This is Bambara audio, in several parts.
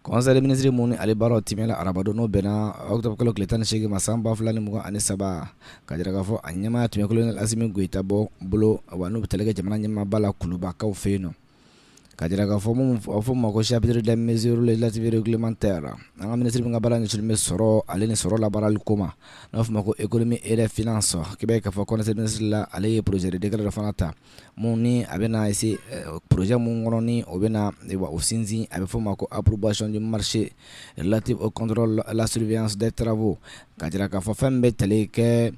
Kɔnɛ minisiriri minnu ni ale baaraw te la arabadon n'o bɛn na aw bɛ kalo tile tan ni segin ma san 2 fila ni mugan ani saba ka jira k'a fɔ a ɲɛmaa tun kelen ni ami gta bɔ bolo wa n'u bɛ tali kɛ jamana ɲɛmaaba la kubakaw fɛ yen nɔ ka jira k'a fɔ minnu fɔ ma ko sibiri da minisir lasibiriman ta la an ka minisiri min ka baara nisin bɛ sɔrɔ ale ni sɔrɔ labarali koma n'a fɔ ma ko e kɔnimi e yɛrɛ f sɔrɔ k'a'a fɔ kɔnɛsɛsiri la ale ye pze dra fana ta min ni a bɛ na se poroze min kɔnɔ ni o bɛ na o sinsin a bɛ fɔ ma ko approbation du marché relative au contrôle à la surveillance des travaux ka jira k'a fɔ fɛn bɛ tali kɛ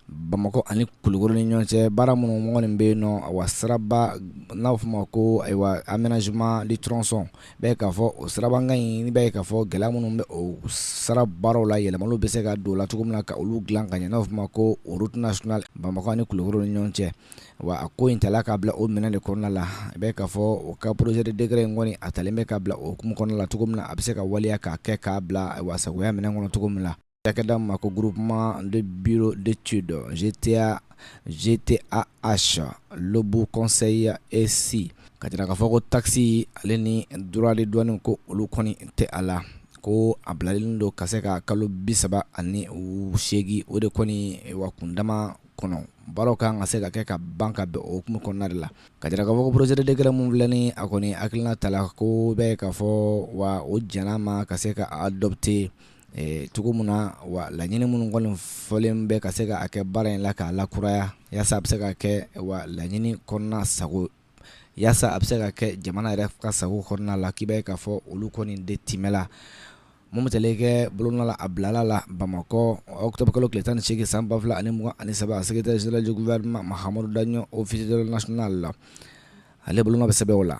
bamakɔ ani kulukoro ni ɲɔgɔn cɛ baara minnu mɔnɔni bɛ yen nɔ wa siraba n'a bɛ fɔ ma ko aménagement du tronçon i b'a ye k'a fɔ o sirabankan in i b'a ye k'a fɔ gɛlɛya minnu bɛ o sira baaraw la yɛlɛma bɛ se ka don la cogo min na ka olu dilan ka ɲɛ n'a bɛ fɔ ma ko route nationale bamakɔ ni kulukoro ni ɲɔgɔn cɛ wa a ko in ta la k'a bila o minɛ de kɔnɔna la i b'a ye k'a fɔ o ka projet de décret in kɔni a talen bɛ k'a bila o hukumu kɔnɔna la cogo min na a bɛ se ka waleya k'a kɛ k'a bila wa sagoya minɛn kɔnɔ cogo min na cakɛda ma ko groupement de bureau d'études GTA GTAH Lobou Conseil ECI ka jira k'a fɔ ko taxe ale ni droit de douane ko olu kɔni tɛ a la ko a bilalen don ka se ka kalo bi saba ani seegin o de kɔni wa kundama kɔnɔ baaraw ka kan ka se ka kɛ ka ban ka bɛn o hukumu kɔnɔna de la, ka jira k'a fɔ ko projet de décret min filɛ nin ye a kɔni hakilina ta la ko i b'a ye k'a fɔ wa o jɛna a ma ka se ka adopter cogo min na wa laɲini minnu kɔni fɔlen bɛ ka se ka a kɛ baara in na k'a lakuraya yasa a bɛ se ka kɛ wa laɲini kɔnɔna sago walasasa a bɛ se ka kɛ jamana yɛrɛ ka sago kɔnɔna la k'i bɛ k'a fɔ olu kɔni de temɛ la mo kɛ bolola a bilala la bamakɔ aw tobe kalo ki tan ni segi san 2 fila ani ani saba a seg sirajugu wɛrɛma ma hada o fiz nas la ale bolo bɛ sɛbɛnbɛ o la